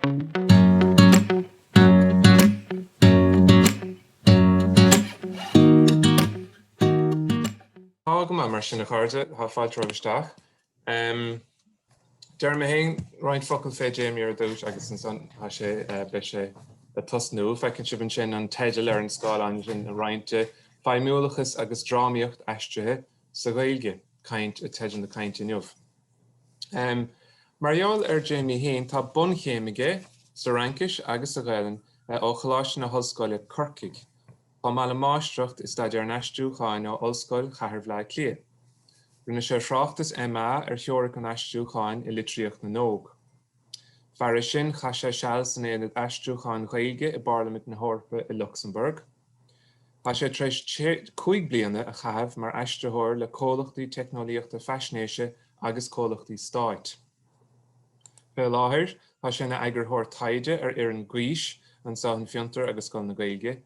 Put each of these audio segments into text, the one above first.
Tá go maith mar sin a chairde, tá failte romhaibh isteach. Déarfaidh mé féin roinnt focal fé Jamie ar dtús agus ansan tá sé, beidh sé ag tosnú. Feiceann sibh ansin an teideal ar an scáileán ansin, roinnte, feidhmiúlachas agus drámaíocht aistrithe sa Ghaeilge, caint, teideal na cainte inniu. Mar gheall ar Jamie fhéin tá bunchéim aige sa Fhraincis agus sa Ghaelainn ó Choláiste na hOllscoile, Corcaigh, chomh maith le Máistreacht i Staidéar an Aistriúcháin ó Ollscoil Chathair Bhaile Átha Cliath. Rinne sé a thráchtas MA ar theoiric an aistriúcháin i litríocht na n-óg. Fairis sin chaith sé seal san Aonad Aistriúcháin Ghaeilge i bPairlimint na hEorpa i Lucsamburg. Tá sé tar éis cúig bliana a chaitheamh mar aistritheoir le comhlachtaí teicneolaíochta faisnéise agus comhlachtaí stáit. Fé láthair tá sé ina eagarthóir taighde ar fhoireann Gaois anseo in Fiontar agus Scoil na Gaeilge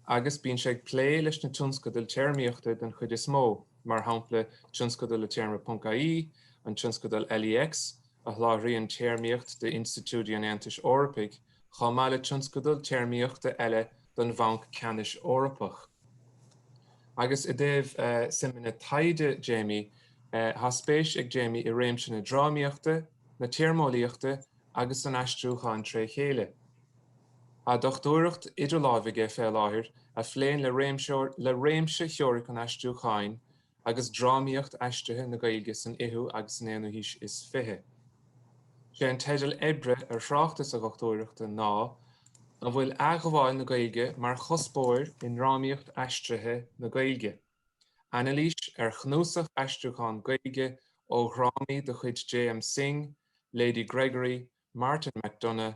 agus bíonn sé ag plé leis na tionscadail téarmaíochta den chuid is mó, mar shampla tionscadal le Téarma ponc IE, an tionscadal LEX a sholáthraíonn téarmaíocht d'Institiúidí an Aontais Eorpaigh, chomh maith le tionscadal téarmaíochta eile don Bhanc Ceannais Eorpach. Agus i dtaobh suimeanna taighde Jamie, tá spéis ag Jamie i réimse na drámaíochta, na téarmeolaíochta agus an aistriúcháin tré chéile. Tá dochtúireacht idir láimh aige fé láthair a phléann le réimse theoiric an aistriúcháin agus drámaíocht aistrithe na Gaeilge san fhichiú agus san aonú haois is fiche. Sé an teideal oibre ar thráchtas a dhochtúireachta ná An bhfuil athghabháil na Gaeilge mar chuspóir i ndrámaíocht aistrithe na Gaeilge? Anailís ar chnuasach aistriúchán Gaeilge ó dhrámaí de chuid J.M. Synge, Lady Gregory, Martin McDonagh,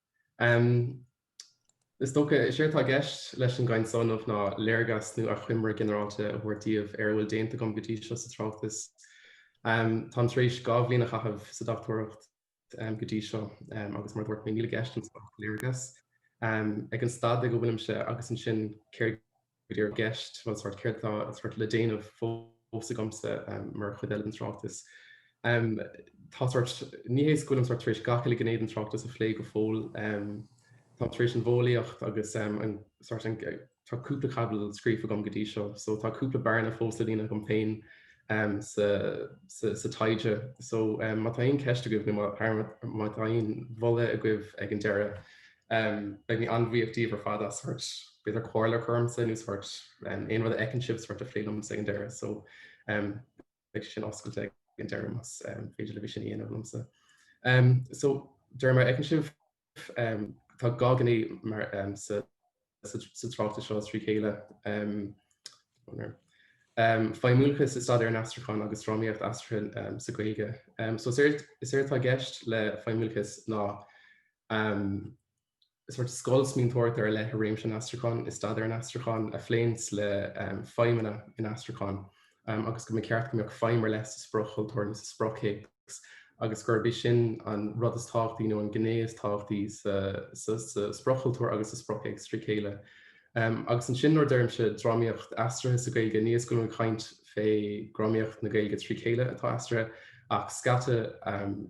Is dócha, is é atá i gceist leis an gcaint seo inniu ná léargas nó achoimre ghinearálta a thabhairt daoibh ar a bhfuil déanta agam go dtí seo sa tráchtas. Táim tar éis dhá bhliain a chaitheamh sa dochtúireacht go dtí seo agus mar a dúirt mé níl i gceist anseo ach léargas ar an staid ag a bhfuilimse agus ansin céard a go dtí ár gceist nó sórt céard atá sórt le déanamh fós agamsa mar chuid den tráchtas. Tá sórt ní hé is go bhfuilim sórt tar éis gach uile ghné den tráchtas a phlé go fóill. Táim tar éis an mhodheolaíocht agus an sórt an tá cúpla caibidil scríofa agam go dtí seo so tá cúpla bearna fós le líonadh agam féin sa sa taighde so má tá aon cheist agaibh nó má tá aon mholadh agaibh ag an deireadh Beidh mé an-bhuíoch díbh ar fad as b'fhéidir comhairle a chur ormsa nó aon rud a fheiceann sibh a phlé liomsa ag an deireadh so beidh sin oscailte ag an deireadh más féidir libh é sin a dhéanamh liomsa. So díreach mar fheiceann sibh tá dhá phríomhphearsa sa tráchtas seo trí chéile. Feidhmiúlachas i staidéar an aistriúcháin agus drámaíocht aistrithe sa Ghaeilge. So is éard atá i gceist le feidhmiúlachas ná sort scoil smaointeoireachta ar leith i réimse an aistriúcháin i staidéar an aistriúcháin a phléanns le feidhmeanna an aistriúcháin agus go mba cheart go mbeadh feidhm ar leith sa sprioc-chultúr nó sa spriocthéacs agus gurb é sin an rud is tábhachtaí nó an ghné is tábhachtaí sa spriocchultúr agus sa spriocthéacs trí chéile. Agus ansin nuair a deirimse drámaíocht aistrithe sa Ghaeilge ní hé go bhfuilim ag caint fé dhrámaíocht na Gaeilge trí chéile atá aistrithe ach scata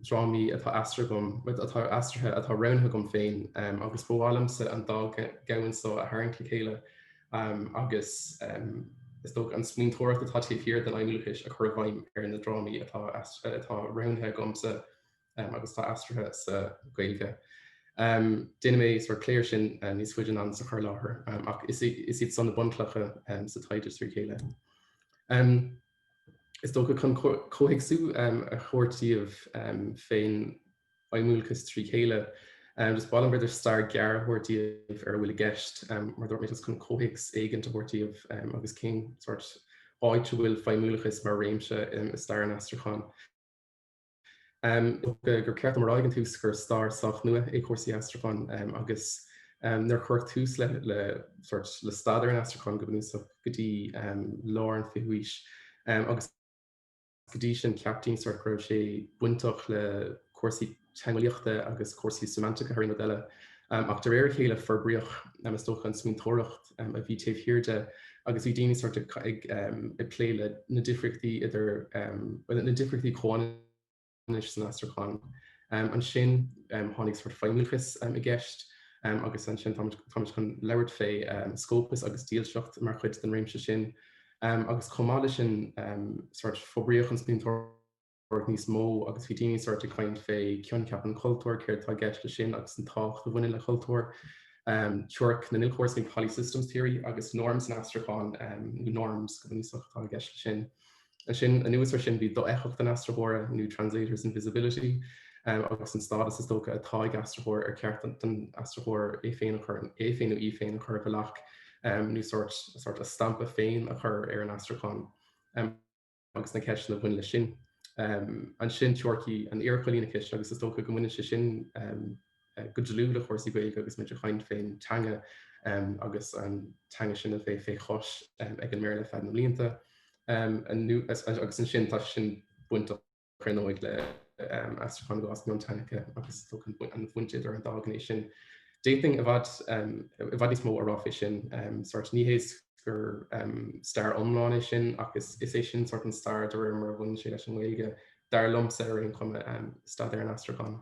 drámaí atá aistrithe atá roghnaithe agam féin agus ba mhaith liomsa an dá dhomhan seo a tharraingt le chéile agus is dócha an smaointeoireacht atá taobh thiar den fheidhmiúlachas a chur i bhfeidhm ar na drámaí atá roghnaithe agamsa agus atá aistrithe sa Ghaeilge. Déanfaidh mé sort soiléiriú air sin níos faide anonn sa chur láthair ach is iad so na bunchlocha sa taighde trí chéile. Is dócha chun comhthéacsú a thabhairt daoibh fén feidhmiúlachas trí chéile. Just ba mhaith liom b'fhéidir stair gearr a thabhairt daoibh ar a bhfuil i gceist, mar dúirt mé just chun comhthéacs éigin a thabhairt daoibh agus cén sórt áit a bhfuil feidhmiúlachas mar réimse i stair an aistriúcháin. gur ceart dom a rá ag an tús gur stair sách nua é cúrsaí aistriúcháin agus nár cuireadh tús le le staidéar an aistriúcháin go bunúsach go dtí lár an fichiú haois agus Go dtí sin cheap daoine sort go raibh sé bainteach le cúrsaí teangeolaíochta agus cúrsaí séimeantaice thar aon rud eile. Ach de réir a chéile forbraíodh, is dócha, an smaointeoireacht a bhí taobh thiar de agus bhí daoine sort ag plé le na difríochtaí idir, bhuel, na difríochtaí comhionannais san aistriúchán. Ansin tháinig sort feidhmiúlachas i gceist agus ansin táimid chun labhairt fé scópas agus dílseacht mar chuid den réimse sin. agus chomh maith leis sin forbraíodh an smaointeoireacht níos mó agus bhí daoine ag caint fé choincheap an chultúir, céard atá i gceist leis sin agus an tábhacht a bhaineann le cultúr. Teoiric na n-ilchóras nó polysystems theory agus norms san aistriúchán nó noirm go bunúsach atá i gceist leis sin. Ansin, anuas air sin, bhí dofheictheacht an aistritheora nó translator's invisibility agus an stádas is dócha atá ag aistritheoir ar cheart don aistritheoir é féin nó í féin a chur i bhfolach Nó sórt sórt a stampa féin a chur ar an aistriúchán agus na ceisteanna a bhain leis sin. Ansin teoiricí an iarchoilíneachais agus is dócha go mbaineann sé sin go dlúth le cúrsaí Gaeilge agus muid ag caint fén teanga agus an teanga sin a bheith fé chois ag an mBéarla feadh na mblianta agus ansin tá sé sin bainteach críochnóidh le aistriúchán agus mionteangacha agus tá an-bhaint idir an dá ghné sin d'fhéadfainn i bhfad i bhfad níos mó a rá fé sin sort ní hé gur stair iomlán é sin ach is is é sin sort an stair de réir mar a bhaineann sé leis an nGaeilge dar liomsa ar aon chuma staidéar an aistriúcháin.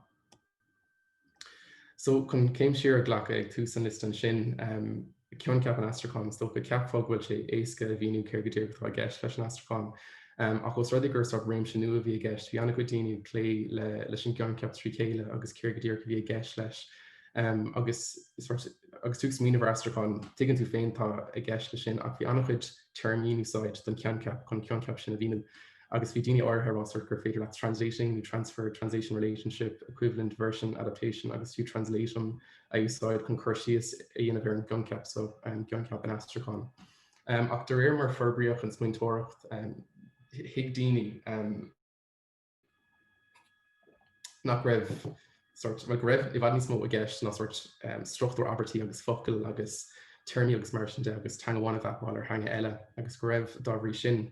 So, chun céim siar a ghlacadh ag tús an liosta ansin, coincheap an aistriúcháin, is dócha, ceapfá go bhfuil sé éasca a mhíniú céard go díreach atá i gceist leis an aistriúchán. Ach os rud é gur sách réimse nua a bhí i gceist, bhí an-chuid daoine ag plé leis an gcoincheap trí chéile agus céard go díreach a bhí i gceist leis. Agus tú ag smaoineamh ar aistriúchán, tuigeann tú féin céard atá i gceist leis sin, ach bhí an-chuid téarmaí in úsáid don choincheap chun an coincheap sin a mhíniú. Agus bhí daoine áirithe a rá sort gur féidir leat translating nó transfer, translation relationship, equivalence, version, adaptation agus fiú translatum a úsáid chun cur síos a dhéanamh ar an gcoincheap so, gcoincheap an aistriúcháin. Ach de réir mar forbraíodh an smaointeoireacht, thuig daoine nach raibh sort, bhuel go raibh i bhfad níos mó i gceist ná sort struchtúr abairtí agus focail agus téarmaí agus mar sin de agus teanga amháin a mhapáil ar theanga eile agus go raibh, dá bhrí sin,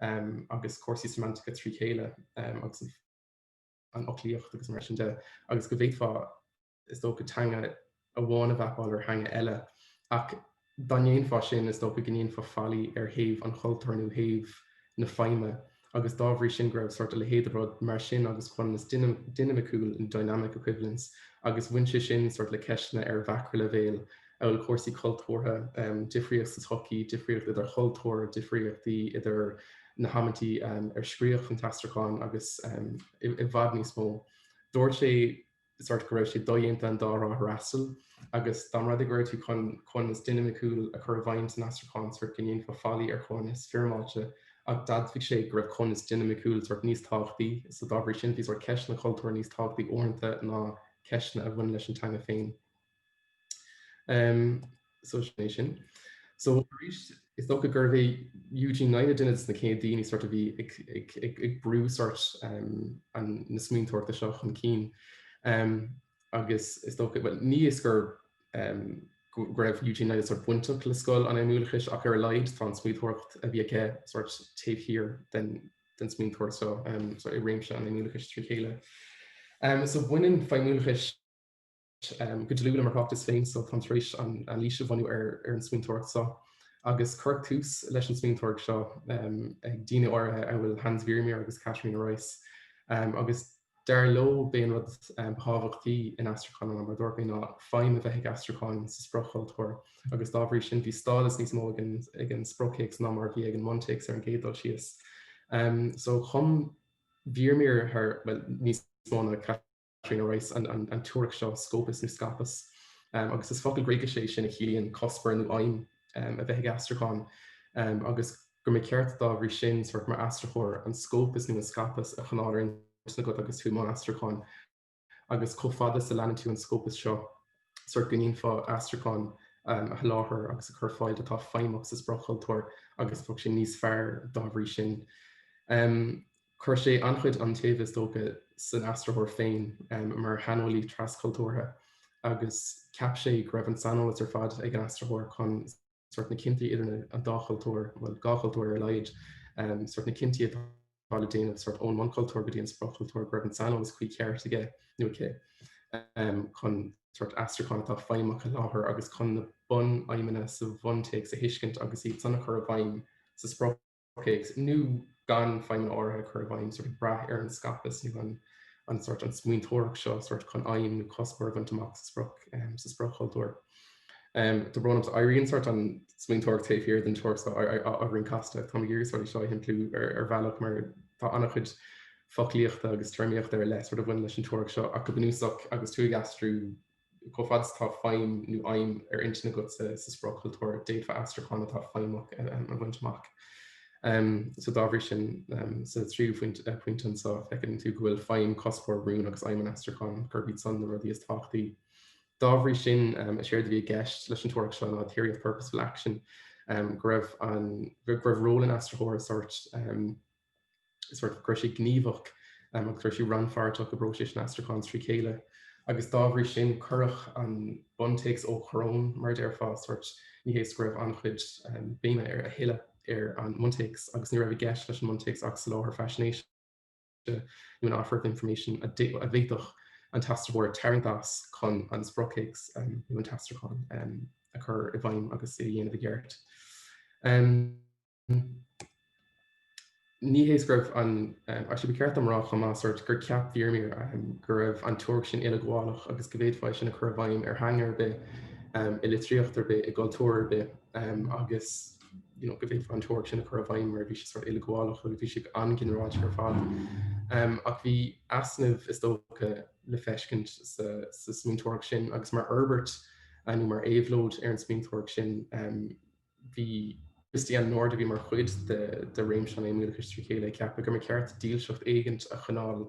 agus cúrsaí semantacha trí chéile agus an fhoclaíocht agus mar sin de agus go bhféadfá, is dócha, teanga amháin a mhapáil ar theanga eile ach dá ndéanfá sin is dócha go ndéanfá faillí ar thaobh an chultúir nó thaobh na feidhme agus dá bhrí sin go raibh sórt a leithéid de rud mar sin agus coibhéiseacht dinimiciúil, dynamic equivalence, agus bhain sé sin sórt le ceisteanna ar mhacraileibhéal amhail cúrsaí cultúrtha, difríocht sa tsochaí, difríocht idir chultúir, difríochtaí idir na hamantaí ar scríodh an t-aistriúchán agus i bhfad níos mó. Dúirt sé go raibh sé dodhéanta an dá thrá a fhreastal agus dá mba rud é go raibh tú chun coibhneas dinimiciúil a chur i bhfeidhm san aistriúchán go ndéanfá faillí ar choibhneas foirmeáilte, ach d'admhaigh sé go raibh coibhneas dinimiciúil níos tábhachtaí so dá bhrí sin bhí ceisteanna cultúir níos tábhachtaí uaireanta ná ceisteanna a bhain leis an teanga féin. So sin é sin. So arís is dócha gurbh é Eugene Nida duine de sna céad daoine sort a bhí ag brú sort na smaointeoireachta seo chun cinn. agus is dócha bhuel ní is go raibh Eugene Nida sort bainteach le scoil an fheidhmiúlachais ach ar a laghad tá an smaointeoireacht a bhí aige sort taobh thiar den den smaointeoireacht so i réimse an fheidhmiúlachais trí chéile. So baineann feidhmiúlachas Go dlúth le mo thráchtas féin so táim tar éis anailís a bhunú ar an smaointeoireacht so agus cuireadh tús leis an smaointeoireacht seo ag daoine áirithe amhail Hans Vermeer agus Katharina Reiss agus dar leo b'é an rud ba thábhachtaí in aistriúchán ná mar a dúrt cheana feidhm a bheith ag aistriúchán sa sprioc-chultúr agus dá bhrí sin bhí stádas níos mó ag an spriocthéacs ná mar a bhí ag an mbuntéacs ar an gcéad dul síos. So chum Vermeer thar, bhuel, níos mó ná Trina Reiss an teoiric seo Skopos nó Skopos, agus is focal Gréigise é sin a chiallaíonn cuspóir nó aidhm a bheith ag aistriúchán, agus go mba cheart dá bhrí sin sórt mar aistritheoir an Skopos nó an Skopos a choinneáil ar intinn agat agus tú i mbun aistriúcháin. Agus chomh fada is a leanann tú an Skopos seo, sórt go ndéanfá aistriúchán a sholáthar agus a chur ar fáil atá feidhmeach sa sprioc-chultúr agus bheadh sé níos fearr dá bhrí sin. Chuir sé an-chuid iontaoibh is dócha san aistritheoir féin mar shaineolaí tras-chultúrtha agus cheap sé go raibh an saineolas ar fad ag an aistritheoir chun sórt na cinntí idir na an dá chultúr, bhuel dhá chultúr ar a laghad, sórt na cinntí atá le déanamh sórt ón mbunchultúr go dtí an sprioc-chultúr, go raibh an saineolas cuí ceart aige nó aici chun sórt aistriúchán atá feidhmeach a sholáthar agus chun na bunfheidhmeanna sa bhuntéacs a thuiscint agus iad san a chur i bhfeidhm sa sprioc. chultúr nó gan feidhm áirithe a chur i bhfeidhm, sort ag brath ar an Skopos nó an an sort an smaointeoireacht seo sort chun aidhm nó cuspóir a bhaint amach sa sprioc sa sprioc-chultúr. Tá brón orm éiríonn sort an smaointeoireacht taobh thiar den teoiric seo beagáinín casta. Táim ag iarraidh sort seo a shimpliú ar ar bhealach mar tá an-chuid foclaíochta agus téarmaíochta ar leith sort a bhain leis an teoiric seo ach go bunúsach agus tú ag aistriú Chomh fada is atá feidhm nó aidhm ar intinn agat sa sprioc-chultúr, d'fhéadfá aistriúchán atá feidhmeach a bhaint amach. So dá bhrí sin, sa tríú pointe anseo, feiceann tú go bhfuil feidhm, cuspóir, rún agus aidhm an aistriúcháin, gurb iad san na rudaí is tábhachtaí. Dá bhrí sin, is éard a bhí i gceist leis an teoiric seo ná theory of purposeful action, go raibh ról an aistritheora sórt is rud go raibh sé gníomhach agus go raibh sé rannpháirteach i bpróiseas an aistriúcháin trí chéile agus dá bhrí sin cuireadh an buntéacs ó choróin, mar a déarfá, sórt ní hé is go raibh an-chuid béime a thuilleadh ar an mbuntéacs agus ní raibh i gceist leis an mbuntéacs ach soláthar faisnéise nó an offer of information a d'fhéadfadh an t-aistritheoir tarraingt as chun an spriocthéacs nó an t-aistriúchán a chur i bhfeidhm agus é a dhéanamh i gceart. Ní hé is go raibh an, actually ba ceart dom a rá chomh maith sórt gur ceap Vermeer go raibh an teoiric sin uileghabhálach agus go bhféadfá é sin a chur i bhfeidhm ar theanga ar bith, i litríocht ar bith, i gcultúr ar bith agus you know go bhféadfá an teoiric sin a chur i bhfeidhm mar bhí sé sórt uileghabhálach agus bhí sé an-ghinearálta ar fad. Ach bhí easnaimh is dócha le feiscint sa smaointeoireacht sin agus mar fhorbairt nó mar éabhlóid ar an smaointeoireacht sin Bhí Christiane Nord, a bhí mar chuid de réimse an fheidhmiúlachais trí chéile, ag ceapadh gur mba cheart dílseacht éigint a choinneáil,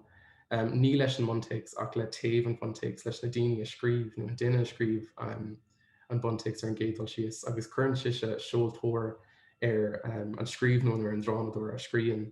ní leis an mbuntéacs ach le taobh an bhuntéacs, leis na daoine a scríobh, nó an duine a scríobh, an buntéacs ar an gcéad dul síos, agus cuireann sise seoltóir ar an scríbhneoir nó ar an drámadóir a scríonn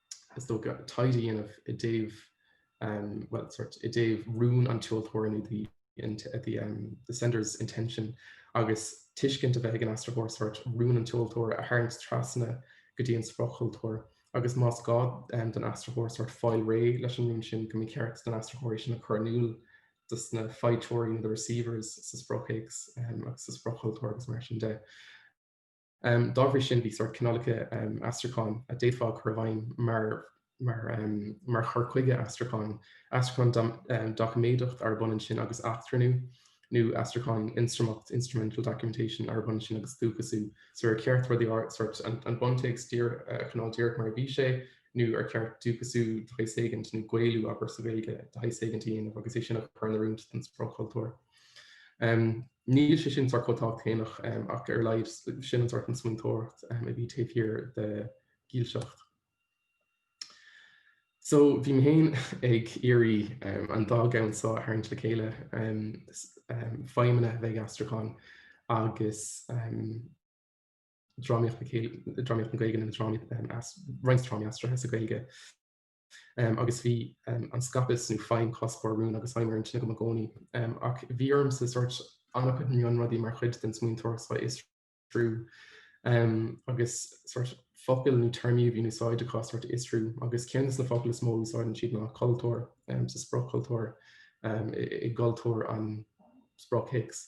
is dócha, tithe a dhéanamh i dtaobh, bhuel, sórt, i dtaobh rún an tseoltóra nó the sender's intention agus tuiscint a bheith ag an aistritheoir, sórt, rún an tseoltóra a tharraingt trasna go dtí an spriocthultúr. Agus más gá don aistritheoir, sórt, fáil réidh leis an rún sin, go mba cheart don aistritheoir é sin a chur in iúl dos na faighteoirí nó the receivers sa spriocthéacs agus sa spriocthultúr agus mar sin de. Dá bhrí sin bhí sórt cineálacha aistriúcháin a d'fhéadfá a chur i bhfeidhm mar chur chuige aistriúcháin, aistriúchán doiciméadach arb ionann sin agus eachtrannú, nó aistriúchán ionstraimeach, instrumental documentation, arb ionann sin agus dúchasú, so ar cheart rudaí sórt an bhuntéacs a choinneáil díreach mar a bhí sé, nó ar cheart dúchasú de shaghas éigint nó gaelú, abair, sa Ghaeilge de shaghas éigint a dhéanamh agus é sin a chur in oiriúint don sprioc-chultúr. Níl sé sin sórt chomh tábhachtach céanna ach ar a laghad sin an sórt an smaointeoireacht a bhí taobh thiar de dhílseacht. So bhí mé féin ag iarraidh an dá cheann so a tharraingt le chéile, feidhmeanna a bheith ag aistriúchán agus drámaíocht, drámaíocht na Gaeilge nó roinnt drámaí aistrithe sa Ghaeilge. agus bhí an skopos nó feidhm cuspóir rún agus aidhm ar intinn agam i gcónaí. Ach bhí ormsa sórt an-chuid mionrudaí mar chuid den smaointeoireacht sin a fhiosrú agus sórt focail nó téarmaí a bhí in úsáid acu sórt a fhiosrú agus ceann de na focail is mó a úsáideann siad ná cultúr sa spriocchultúr i gcultúr an spriocthéacs.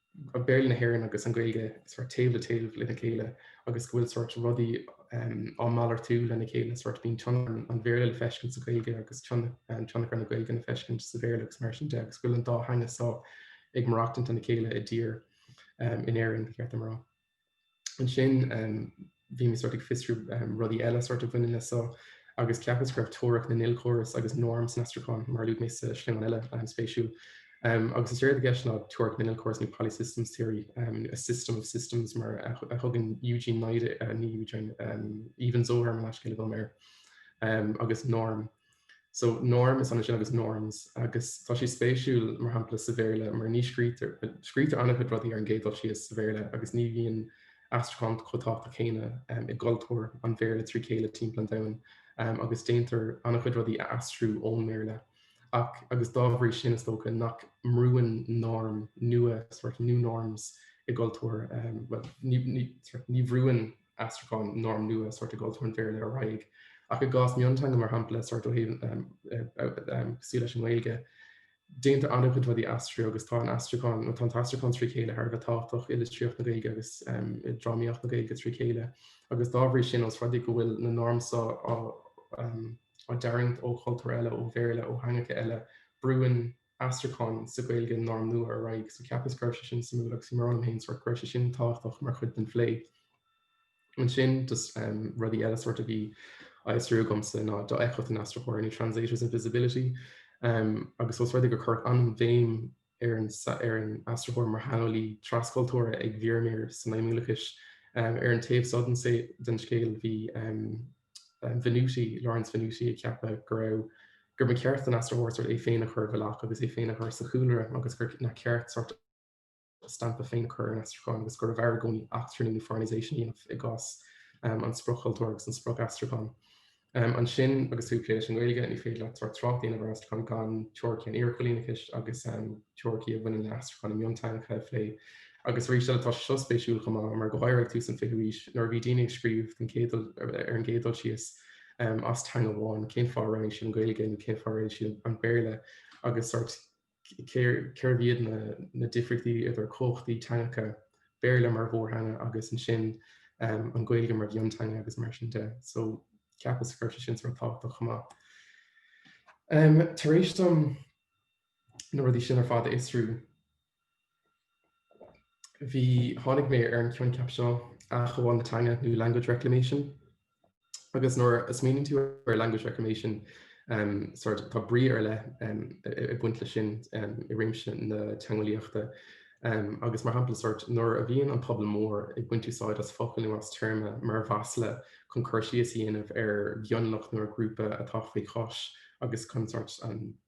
ach Béarla na hÉireann agus an Ghaeilge sórt taobh le taobh lena chéile agus go bhfuil sórt rudaí á malartú lena chéile sórt bíonn tionchar an Bhéarla le feiscint sa Ghaeilge agus tionchar na Gaeilge le feiscint sa Bhéarla agus mar sin de agus go bhfuil an dá theanga so ag maireachtaint lena chéile i dtír na hÉireann ba cheart dom a rá. Ansin bhí mé sort ag fiosrú rudaí eile sort a bhaineann le so agus ceapas go raibh teoiric na n-ilchóras agus noirm san aistriúchán mar a luaigh mé sa sleamhnán eile an-spéisiúil. Um, agus is éard atá i gceist ná teoiric na n-ilchóras nó polysystems theory, um, a system of systems mar a thugann Eugene Nida, uh, ní Eugene, um, Even-Zohar, mo leithscéal, a ghabháil, um, air. Um, agus noirm So, noirm is ionann sin agus norms agus tá sé spéisiúil mar shampla sa Bhéarla mar ní scrítear, scrítear an-chuid rudaí ar an gcéad dul síos sa Bhéarla agus ní bhíonn aistriúchán chomh tábhachtach céanna i gcultúr an Bhéarla trí chéile timpeall an domhain agus déantar an-chuid rudaí a aistriú ón mBéarla ach agus dá bhrí sin is dócha nach mbrúann noirm nua sort new norms i gcultúr, bhuel ní bhrúann aistriúcháin noirm nua sort i gcultúr an Bhéarla ar aghaidh, ach i gcás mionteanga mar shampla sort ó thaobh cosúil leis an nGaeilge, déantar an-chuid rudaí a aistriú agus tá an aistriúchán, nó tá an t-aistriúchán trí chéile thar a bheith tábhachtach i litríocht na Gaeilge agus i drámaíocht na Gaeilge trí chéile. Agus dá bhrí sin, ós rud é go bhfuil na noirm seo á dtarraingt ó chultúir eile, ó Bhéarla, ó theangacha eile, brúnn. aistriúcháin sa Ghaeilge noirm nua ar aghaidh, so cheapas go raibh sé sin suimiúil agus bhraith mé féin sórt go raibh sé sin tábhachtach mar chuid den phlé. Ansin just rudaí eile sórt a bhí á fhiosrú agamsa ná dofheictheacht an aistritheoir nó translator's invisibility agus ós rud é gur cuireadh an-bhéim ar an ar an aistritheoir mar shaineolaí trascultúrtha ag Vermeer san fheidhmiúlachas ar an taobh so den scéal bhí Venuti, Lawrence Venuti, ag ceapadh go raibh gurbh é ba cheart don aistritheoir sort é féin a chur i bhfolach agus é féin a chur sa chúlra agus gur nár cheart sort a stampa féin a chur ar an aistriúchán agus gurbh fhearr i gcónaí eachtrannú nó foreignization a dhéanamh i gcás an sprioc-chultúir agus an sprioc-aistriúcháin. Ansin agus tú ag plé leis an nGaeilge, ní féidir leat sort trácht a dhéanamh ar aistriúchán gan teoiricí an iarchoilíneachais agus teoiricí a bhaineann le haistriúchán i mionteangacha a phlé. Agus arís eile, tá sé seo spéisiúil chomh maith mar go háirithe ag tús an 20ú haois, nuair a bhí daoine ag scríobh den chéad dul, ar an gcéad dul síos, as teanga amháin, cén fáth a roghnaigh siad an Ghaeilge nó cén fáth a roghnaigh siad an Béarla agus sort cérbh iad na difríochtaí idir cumhachtaí teangacha, Béarla mar mhórtheanga agus ansin an Ghaeilge mar mhionteanga agus mar sin de. So ceapas go raibh sé sin sort tábhachtach chomh maith. Tar éis dom na rudaí sin ar fad a fhiosrú, Bhí, tháinig mé ar an coincheap seo, athghabháil na teanga nó language reclamation. Agus nuair a smaoiníonn tú ar language reclamation, um, sort, tá brí ar leith um, ag baint le sin um, i réimse na teangeolaíochta. Um, agus mar shampla sort, nuair a bhíonn an pobal mór ag baint úsáid as focail nó as téarma mar mhasla chun cur síos a dhéanamh ar mhionlach nó ar ghrúpa atá faoi chois, agus chun sórt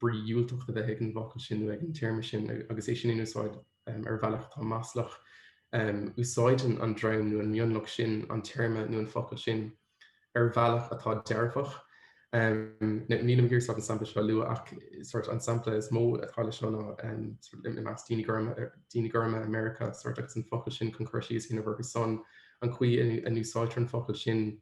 brí dhiúltach a bheith ag an bhfocal sin nó ag an téarma sin agus é sin in úsáid ar bhealach atá maslach, úsáideann an dream nó an mionlach sin an téarma nó an focal sin ar bhealach atá dearfach. Ní gá go dtí an sampla seo a lua ach sort an sampla is mó atá le seo ná i measc daoine gorma daoine gorma i Meiriceá sort agus an focal sin chun cur síos ar son an chaoi a n-úsáidtear an focal sin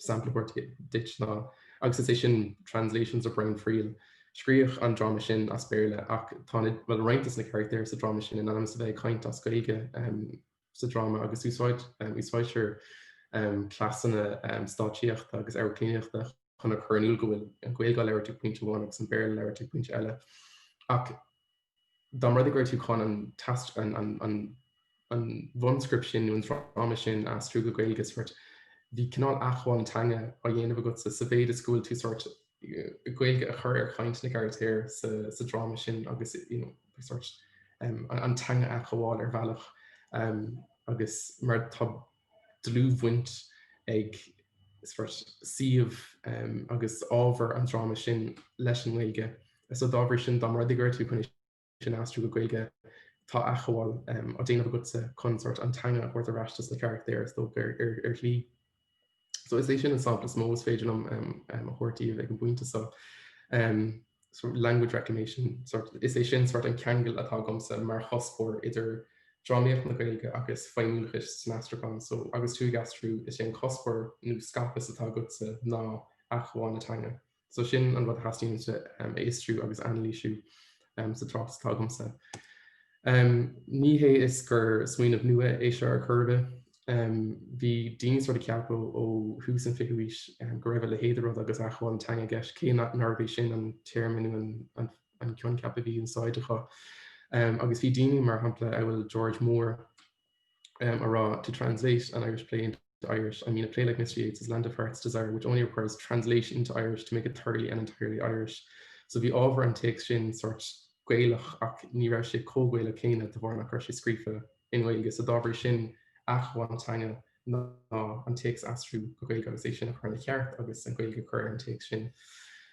Sampla a thabhairt duit ná agus is é sin Translations le Brian Friel. Scríodh an dráma sin as Béarla ach tá na, bhuel, roinnt de na carachtair sa dráma sin in ainm is a bheith ag caint as Gaeilge sa dráma agus úsáidtear cleasanna stáitsíochta agus amharclannaíochta chun a chur in iúl go bhfuil an Ghaeilge á labhairt ag pointe amháin agus an Béarla á labhairt ag pointe eile. Ach dá mba rud é go raibh tú chun an bhunscript sin nó an dráma sin a aistriú go Gaeilge, bheadh cineál athghabháil an teanga á dhéanamh agatsa sa mhéid is go bhfuil tú Gaeilge a chur ar chaint na gcarachtar sa dráma sin agus an teanga a athghabháil ar bhealach agus mar tá dlúthbhaint ag suíomh agus ábhar an dráma sin leis an nGaeilge. So dá bhrí sin, dá mba rud é go raibh tú chun é sin a aistriú go Gaeilge, tá athghabháil á déanamh agatsa chun sórt an teanga a thabhairt ar ais dos na carachtair is dócha ar shlí. So is é sin an sampla is mó is féidir liom a thabhairt daoibh ag an bpointe seo. sort of language reclamation, sort, is é sin sort an ceangal atá agamsa mar chuspóir idir drámaíocht na Gaeilge agus feidhmiúlachas san aistriúchán, so agus tú ag aistriú is é an cuspóir nó skopos atá agatsa ná athghabháil na teanga. So sin an rud a theastaíonn uaimse a fhiosrú agus a anailísiú sa tráchtas atá agamsa. Ní hé is gur smaoineamh nua é seo ar chor ar bith. Bhí daoine sort ag ceapadh ó thús an 20ú haois go raibh a leithéid de rud agus athghabháil an teanga i gceist, cé nárbh é sin an téarma nó an coincheap a bhí in úsáid acu. Agus bhí daoine, mar shampla, amhail George Moore, um, ag rá, to translate an Irish play into Irish, I mean a play like Mr. Yeats's Land of Heart's Desire, which only requires translation into Irish to make it thoroughly and entirely Irish. So bhí ábhar an téacs sin sort gaelach ach ní raibh sé chomh Gaelach céanna de bharr nach raibh sé scríofa i nGaeilge. So dá bhrí sin, athghabháil an teanga ná an téacs aistriú go Gaeilge agus é sin a chur ina cheart agus an Ghaeilge a chur ar an téacs sin.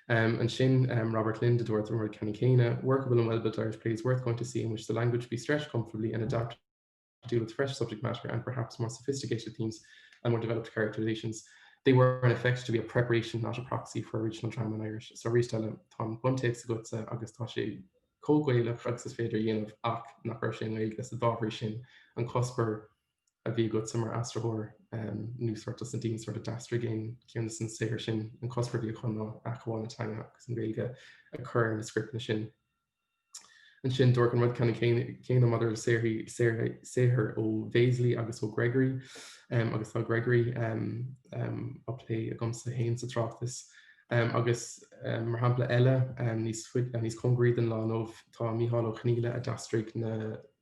Ansin Robert Lynd a dúirt an rud ceannann céanna, workable and well-built Irish play is worth going to see in which the language be stretched comfortably and adapted to deal with fresh subject matter and perhaps more sophisticated themes and more developed characterizations. They were in effect to be a preparation not a proxy for original drama in Irish. So arís eile tá an buntéacs agatsa agus tá sé comh Gaelach agus is féidir a dhéanamh ach nach raibh sé i nGaeilge so dá bhrí sin an cuspóir a bhí agatsa mar aistritheoir nó sort as na daoine sort a d'aistrigh aon cheann des na saothair sin, an cuspóir a bhí acu ná athghabháil na teanga agus an Ghaeilge a chur ar na scripteanna sin. Ansin dúirt an rud ceannann céanna maidir le saothraí saothar ó Bhéaslaí agus ó Gregory um, agus tá Gregory um, um, á plé agamsa féin sa tráchtas Um, agus um, mar shampla eile um, níos, uh, níos congaraí den lá inniubh tá Micheál Ó Conghaile a d'aistrigh na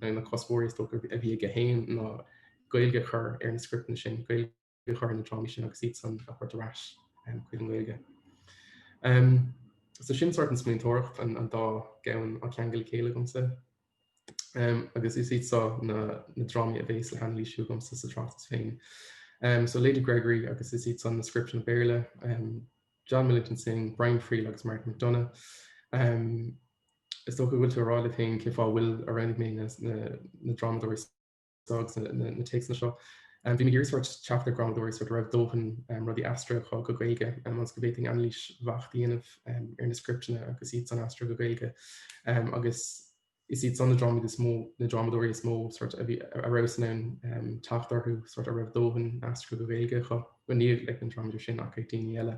Beidh na cuspóirí is dócha a bhí aige féin ná Gaeilge a chur ar na scripteanna sin, Gaeilge a chur ar na drámaí sin agus iadsan a thabhairt ar ais chuig an nGaeilge. So sin sort an smaointeoireacht, an dá gceann á ceangal le chéile agamsa. agus is iad seo na drámaí a bhéas á n-anailísiú agamsa sa tráchtas féin. So Lady Gregory agus is iad san na scripteanna Béarla, John Millington Synge, Brian Friel agus Martin McDonagh. Is dócha go bhfuil sibh ag rá libh féin cé fáth a bhfuil a roghnaigh mé na drámadóirí so agus na téacsanna seo. Bhí mé ag iarraidh sort teacht ar dhrámadóirí so go raibh dóthain rudaí aistrithe go Gaeilge ionas go bhféadfainn anailís bheacht a dhéanamh ar na scripteanna agus iad san aistrithe go Gaeilge agus is iad san na drámaí is mó, na drámadóirí is mó a rabhas in ann teacht orthu so a raibh dóthain aistrithe go Gaeilge acu. Bhuel níl ag na drámadóirí sin ach ag daoine eile.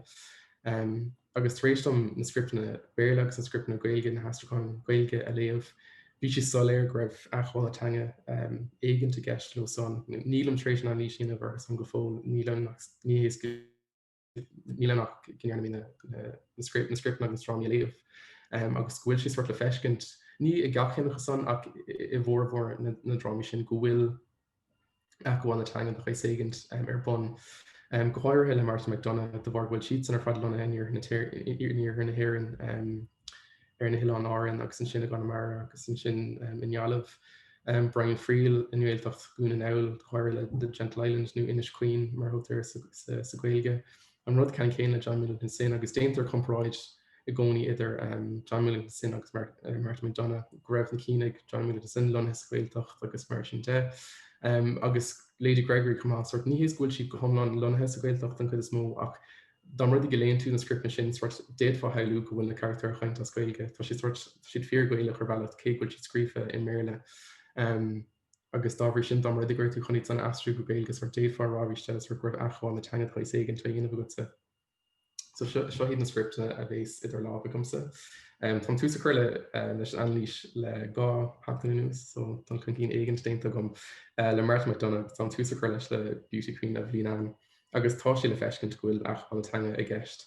agus tar éis dom na scripteanna Béarla agus na scripteanna Gaeilge na haistriúcháin Ghaeilge a léamh, bhí sé soiléir go raibh athghabháil teanga éigint i gceist leo san. Nílim tar éis an anailís a dhéanamh orthusan go fóill, níl ann ach go ndearna mé na scripteanna agus na drámaí a léamh agus go bhfuil sé sort le feiscint, ní i gach ceann acu san ach i bhformhór na ndrámaí sin, go bhfuil athghabháil na teangan de shaghas éigint ar bun, go háirithe le Martin McDonagh, de bharr go bhfuil siadsan ar fad lonnaithe in iarthar na hÉireann, ar na hOileáin Árann agus ansin i gConamara agus ansin i nGaillimh. Brian Friel i nGaeltacht Dhún na nGall, go háirithe le Gentle Island nó Inis Caoin mar a thugtar air sa Ghaeilge. An rud ceannann céanna le John Millington Synge agus déantar comparáid i gcónaí idir John Millington Synge agus Martin McDonagh go raibh na cinn ag John Millington Synge lonnaithe sa Ghaeltacht agus mar sin de agus Lady Gregory chomh maith sort ní hé is go bhfuil siad go hiomlán lonnaithe sa Ghaeltacht an chuid is mó ach don rud de go léann tú na scripteanna sin sort d'fhéadfá a shamhlú go bhfuil na carachtair ag caint as Gaeilge tá siad sort siad fíor Ghaelach ar bhealach cé go bhfuil siad scríofa i mBéarla. agus dá bhrí sin, dá mba rud é go raibh tú chun iad san aistriú go Gaeilge, sórt d'fhéadfá a rá arís, b'fhéidir, go raibh athghabháil na teanga saghas éigin á dhéanamh agatsa. So seo iad na scripteanna a bhéas idir lámh agamsa. Tá an tús curtha leis an anailís le dhá sheachtain anuas, so tá an cinnín éigin déanta agam le Martin McDonagh, tá an tús curtha leis le Beauty Queen of Leenane, agus tá sé le feiscint go bhfuil athghabháil na teanga i gceist.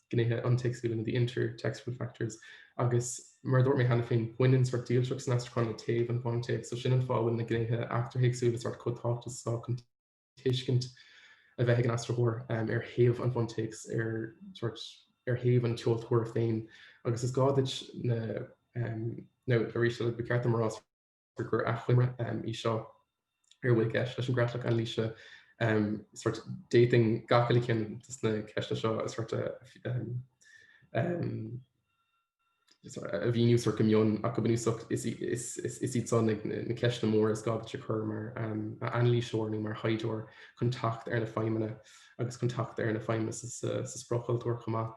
gnéithe iontéacsúla nó the inter-textual factors agus mar a dúirt mé cheana féin, baineann sórt dílseacht san aistriúchán le taobh an bhuntéacs, so sin an fáth a bhfuil na gnéithe eachtarthéacsúla sórt chomh tábhachtach is atá chun tuiscint a bheith ag an aistritheoir ar thaobh an bhuntéacs, ar thaobh an tseoltóra féin. Agus is gá duit na, nó arís, ba cheart dom a rá, gur achoimre í seo ar a bhfuil i gceist leis an gcreatlach anailíse, d'fhéadfainn gach uile cheann de na ceisteanna seo a mhíniú go mion, ach go bunúsach is iad seo na ceisteanna móra is gá duit a chur mar anailíseoir nó mar thaighdeoir chun teacht ar na feidhmeanna agus chun teacht ar na feidhmeanna sa spriocchultúr chomh maith.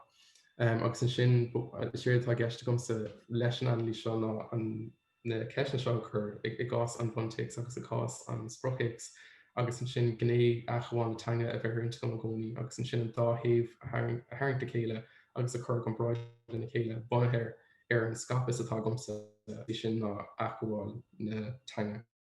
Agus ansin, is é atá i gceist agamsa leis an anailís seo ná an na ceisteanna seo a chur, i gcás an bhuntéacs agus i gcás an spriocthéacs, agus ansin gné athghabháil na teanga a bheith ar intinn agam i gcónaí, agus ansin an dá thaobh a tharraingt le chéile agus a chur i gcomparáid lena chéile bunaithe ar an skopos atá agamsa, is é sin ná athghabháil na teanga.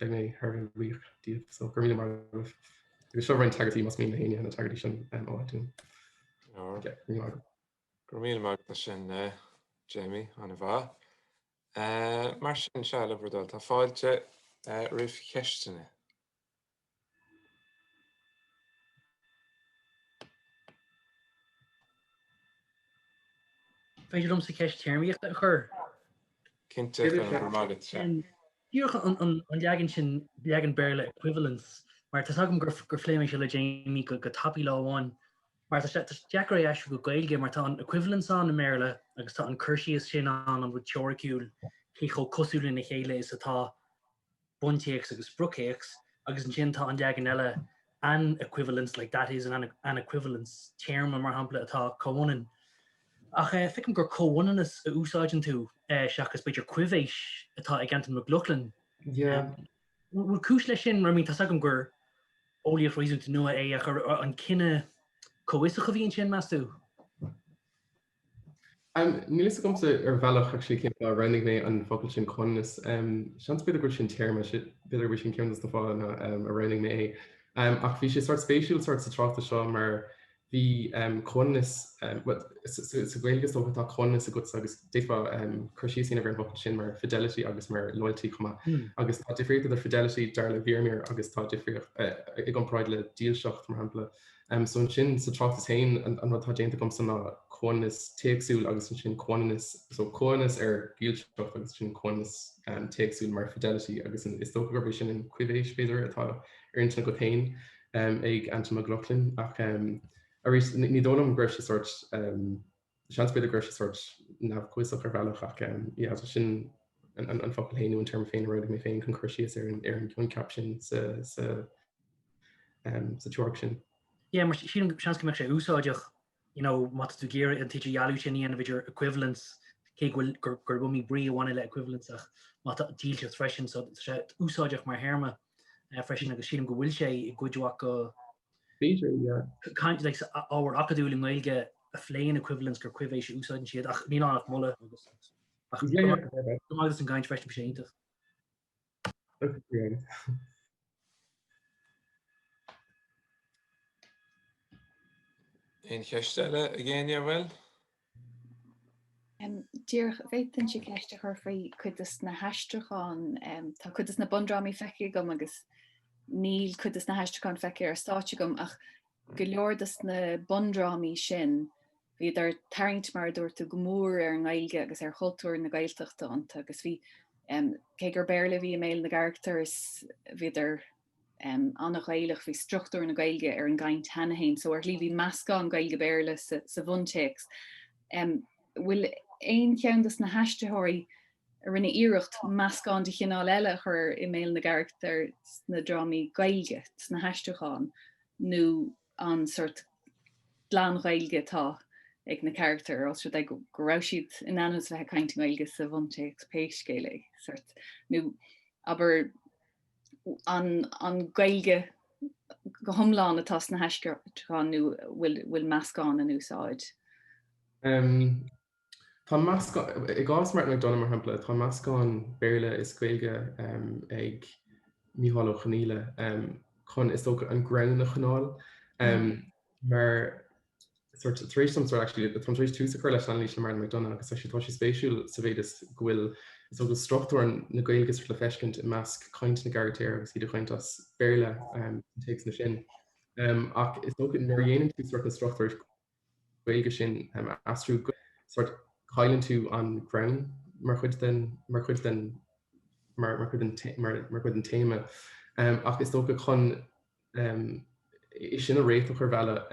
Beidh mé thar a bhfiach díobh so gur míle mar agus seo roinn tagairtí más mín na haine na tagairtí sin um, ó iTunes. Oh. Gur míle mar sin uh, Jamie an bha. Uh, mar sin se le brdal tá fáilte uh, rih cheistena. féidir liomsa ceist téarmaíochta a chur. Cinnte, go raibh maith agat, sea. Díreach an leagan sin, leagan Béarla equivalence, mar tá a fhios agam gur gur phléigh mé seo le Jamie go go tapaidh lá amháin, mar tá sé deacair é a aistriú go Gaeilge mar tá an equivalence ann i mBéarla agus tá an cur síos sin ann an rud teoiriciúil cé chomh cosúil lena chéile is atá buntéacs agus spriocthéacs, agus ansin tá an leagan eile an equivalent, like that is an an equivalence, téarma, mar shampla, atá comhionann. Ach feicim gur comhionannas a úsáideann tú seachas b'fhéidir coibhéis atá ag Antain Mac Lochlainn. Bhfuil cúis leis sin? Mar I mean tá's agam gur eolaíocht réasúnta nua é ach an cinneadh comhfhiosach a bhí ansin, meas tú? Níl fhios agamsa ar bhealach cén fáth a roghnaigh mé an focal sin comhionannas. Seans b'fhéidir go bhfuil sin téarma, b'fhéidir go bhfuil sin ceann de na fáthanna a roghnaigh mé é. Ach bhí sé sort spéisiúil sort sa tráchtas seo mar bhí comhionannas, sa Ghaeilge is dócha atá comhionannas agatsa agus d'fhéadfá cur síos a dhéanamh ar an bhfocal sin mar fidelity agus mar loyalty chomh maith. Agus tá difríocht idir fidelity, dar le Vermeer, agus tá difríocht i gcomparáid le dílseacht, mar shampla. So ansin sa tráchtas féin an rud atá déanta agamsa ná comhionannas téacsúil agus ansin comhionannas, so comhionannas ar dhílseacht agus ansin comhionannas téacsúil mar fidelity agus is dócha gurb é sin an coibhéis b'fhéidir atá ar intinn agat féin ag Antain Mac Lochlainn ach arís ní dóigh liom go raibh sé sort Seans b'fhéidir go raibh sé sórt neamh-chomhfhiosach ar bhealach ach yeah so sin an focal féin nó an téarma féin a roghnaigh mé féin chun cur síos ar an coincheap sin sa teoiric sin. Yeah mar sin seans go mbeadh sé úsáideach you know má tá tú ag iarraidh an t-idirdhealú sin a dhéanamh idir equivalence cé go bhfuil gurb iomaí brí a bhaineann le equivalence ach má tá dílseacht freisin so tá sé úsáideach mar théarma freisin agus sílim go bhfuil sé i gcuid mhaith go B'fhéidir, yeah. caint like sa ábhar acadúil i nGaeilge a phléann equivalence gur coibhéis a úsáideann siad ach níl ann ach moladh agus ach yeah, yeah, yeah, yeah. go raibh maith agat as an gcaint freisin, bhí sé iontach. Agus bhí Aon cheist eile ag éinne an bhfuil? Díreach, bhféadfainnse ceist a chur faoi cuid dos na haistriúcháin. Tá cuid dos na bundrámaí feicthe agam agus níl cuid dos na haistriúcháin feicthe ar stáitse agam ach go leor dos na bundrámaí sin bhíodar ag tarraingt mar a dúirt tú go mór ar an nGaeilge agus ar chultúr na Gaeltachta iontu agus bhí cé gur Béarla a bhí i mbéal na gcarachtar is bhíodar ana-Ghaelach, bhí struchtúr na Gaeilge ar an gcaint cheana féin, so ar shlí bhí meascán Gaeilge-Béarla sa bhuntéacs. An bhfuil aon cheann dos na haistritheoirí a rinne iarracht meascán de chineál eile a chur i mbéal na gcarachtar sna drámaí Gaeilge, sna haistriúcháin, nó an sort glan-Ghaeilge atá ag na carachtair os rud é go raibh siad in ainm is a bheith ag caint i nGaeilge sa bhuntéacs pé scéal é? Sort, nó, abair, an Gaeilge go hiomlán atá sna haistriúcháin nó bhfuil meascán in úsáid? Tá meascán, i gcás Martin McDonagh mar shampla, tá meascán Béarla is Gaeilge ag Micheál Ó Conghaile chun, is dócha, an greann a choinneáil mar sort tar éis dom sort actually tá tar éis tús a chur leis an analís le Martin McDonagh agus actually tá sé spéisiúil sa mhéid is go bhfuil is go bhfuil struchtúir na Gaeilge sort le feiscint i measc caint na gcarachtar agus iad ag caint as Béarla um, an téacs na sin. Um, ach is dócha nuair a dhéanann tú sort na struchtúir Gaeilge sin um, a aistriú go sort cailleann tú an greann mar chuid den mar chuid den mar mar chuid an té- mar mar chuid an téama. Um, ach is dócha chun é sin a réiteach ar bhealach.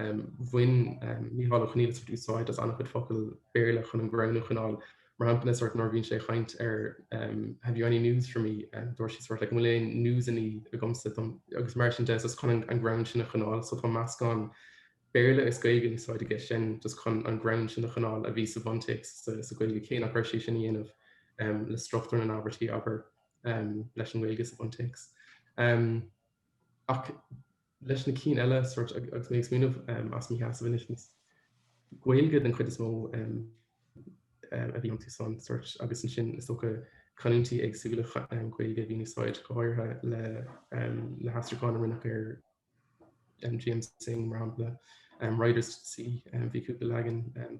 Bhain Micheál Ó Conghaile sort úsáid as an-chuid focal Béarla chun an greann a choinneáil. Mar shampla, ina sort nuair bhíonn sé ag caint ar Have you any news for me? dúirt sé sort like An bhfuil aon news-annaí agamsa? agus mar sin de, so chun an greann sin a choinneáil. So tá meascán Béarla is Gaeilge in úsáid aige sin just chun an greann sin a choinneáil a bhí sa bhuntéacs sa Ghaeilge cé nach raibh sé in ann é a dhéanamh le struchtúr na n-abairtí, abair, leis an nGaeilge sa bhuntéacs. Ach leis na cinn eile, agus mé ag smaoineamh as mo sheasamh anois, is Gaeilge den chuid is mó a bhí iontusan agus ansin is dócha canúintí éagsúla Gaeilge a bhí in úsáid, go háirithe le na haistriúcháin a rinneadh ar J.M. Synge, mar shampla, Riders to the Sea, bhí cúpla leagan.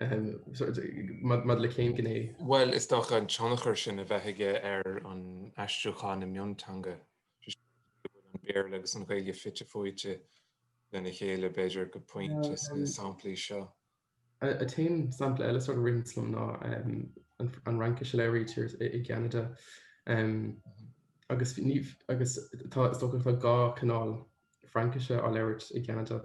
Maidir le cén gné? Bhuel, is dócha an tionchar sin a bheadh aige ar an aistriúchán i mionteanga, sé sin, go bhfuil an Béarla agus an Ghaeilge fite fuaite lena chéile, b'fhéidir, go pointe sna samplaí seo. An t-aon sampla eile sort a ritheann liom ná an Fhraincis a léirítear i gCeanada, agus is dócha go bhfuil dhá chineál Fraincise á labhairt i gCeanada.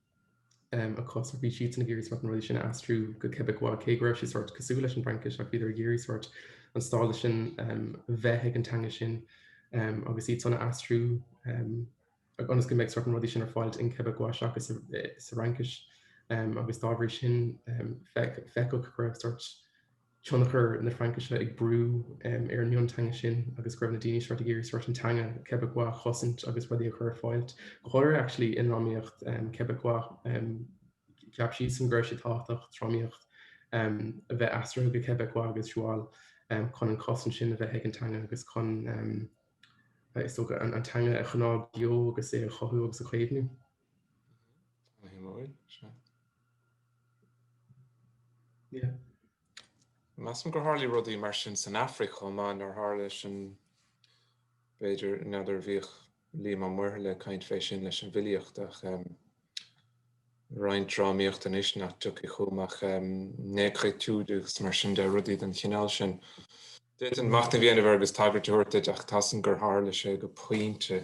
agus bhí siadsan ag iarraidh sórt na rudaí sin a aistriú go Québécois, cé go raibh sé sórt cosúil leis an bhFraincis ach bhíodar ag iarraidh sórt an stádas sin a bheith ag an teanga sin agus iadsan a aistriú ionas go mbeadh sórt na rudaí sin ar fáil in Québécois seachas sa Fhraincis agus dá bhrí sin feictear go raibh sórt tionchar na Fraincise ag brú ar an mionteanga sin agus go raibh na daoine seo ag iarraidh sort an teanga Quebecois a chosaint agus rudaí a chur ar fáil, go háirithe actually i ndrámaíocht Quebecois, cheap siadsan go raibh sé tábhachtach drámaíocht a bheith aistrithe go Quebecois agus Joual chun an cosaint sin a bheith ag an teanga agus chun, is dócha, an teanga a choinneáil beo agus é a chothú agus a chaomhnú. Measaim gur tharla rudaí mar sin san Afraic chomh maith nár tharla sin b'fhéidir n'fheadar bhíodh Liam Ó Muirthile ag caint fé sin leis an bhfilíocht ach roinnt drámaíochta anois nach dtiocfaidh chugam ach négritude agus mar sin de rudaí den chineál sin. D'fhéadfainn machnamh a dhéanamh air agus tagairt a thabhairt duit ach measaim gur tharla sé go pointe.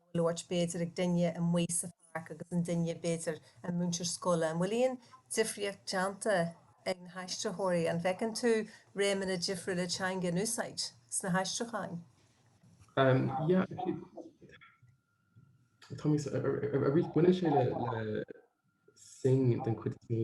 a labhairt b'fhéidir ag duine amuigh sa pháirc agus an duine b'fhéidir an múinteoir scoile. An bhfuil aon difríocht déanta ag na haistritheoirí? An bhfeiceann tú réimeanna difriúla teanga in úsáid sna haistriúcháin? Um yeah i mo ar ar ar bhain sé le le Synge den chuid is mó.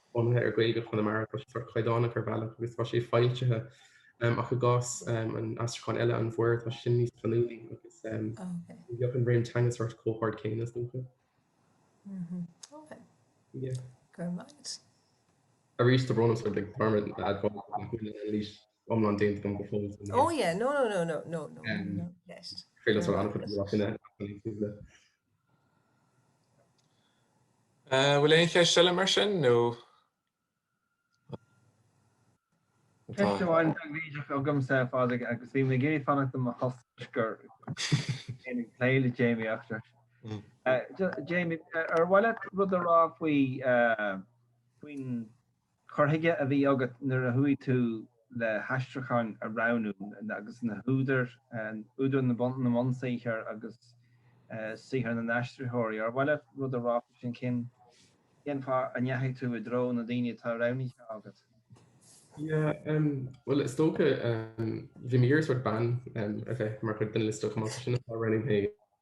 bunaithe ar Gaeilge Chonamara tá sé sórt caighdeánach ar bhealach agus tá sé foilsithe ach i gcás an aistriúcháin eile an mhuir tá sin níos canúnaí agus bheadh an raon teanga sórt comhard céanna is dócha. Arís tá brón sórt agam orm a admháil nach bhfuil an anailís iomlán déanta agam go fóill san iris. Féile sort an-chuid a bhí á chinneadh ach tá mé ag súil le. An bhfuil aon cheist eile mar sin nó...? Ceist amháin tábhachtach agamsa a Phádraig agus bhí mé ag iarraidh fanacht i mo thost agus mé ag plé le Jamie eachtra. Jamie, ar mhaith leat rud a rá faoin Cur chuige a bhí agat nuair a chuaigh tú le haistriúcháin a roghnú agus na húdair, údair na mbunsaothar agus saothar na n-aistritheoirí, ar mhaith leat rud a rá faoi sin? Cén fáth a ndeachaigh tú i dtreo na ndaoine atá roghnaithe agat? Yeah, bhuel is dócha bhí mé ag iarraidh sórt bean a bheith mar chuid den liosta chomh maith sin atá roghnaithe.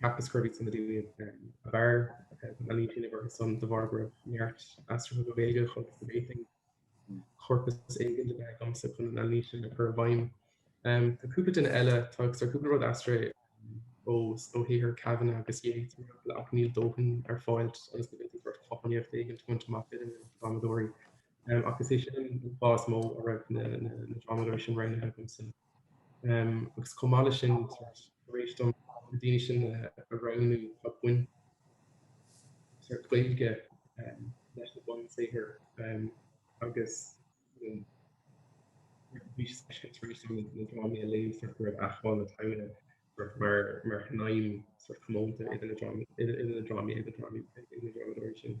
Cheapas gurb iad san na húdair ab fhearr na línte libh orthu san de bharr go raibh neart aistrithe go Gaeilge chugaibh sa Bhéitinn. Corpas éigin le bheith agamsa chun na línte sin a chur i bhfeidhm. Tá cúpla duine eile, tá cúpla rud aistrithe os ó shaothar Kavanagh agus Yeats mar shampla ach níl dóthain ar fáilt agus ní bhféadfaí b'fhéidir cothromaíocht éigin a bhaint amach idir na drámadóirí. Ach is é sin an fáth is mó a raibh na drámadóirí sin roghnaithe agamsa. agus chomh maith leis sin tar éis dom na daoine sin a roghnú tá baint ag an nGaeilge leis na bunsaothair agus bhí sé spéisiúil tar éis dom na drámaí a léamh go raibh acmhainn na talún mar shnaidhm chomónta idir na drámaí agus na drámadóirí sin.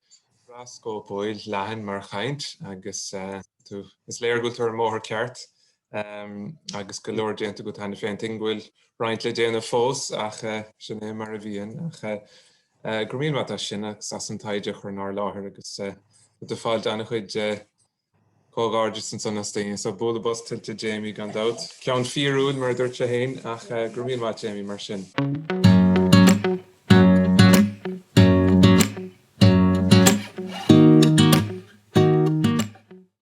an-scóipiúil leathan mar chaint agus tú is léir go bhfuil tú ar an mbóthar ceart agus go leor déanta agat cheana féin. Tuigim go bhfuil roinnt le déanamh fós ach sin é mar a bhíonn. Go raibh míle maith agat as sin agus as an taighde a chur inár láthair agus do phlé déanta ana chuid Comhghairdeas ansan leis na daoine so. Bualadh bos tuillte ag Jamie gan dabht. Ceann fíorúil mar a dúirt sé fhéin ach go raibh míle maith ag Jamie mar sin.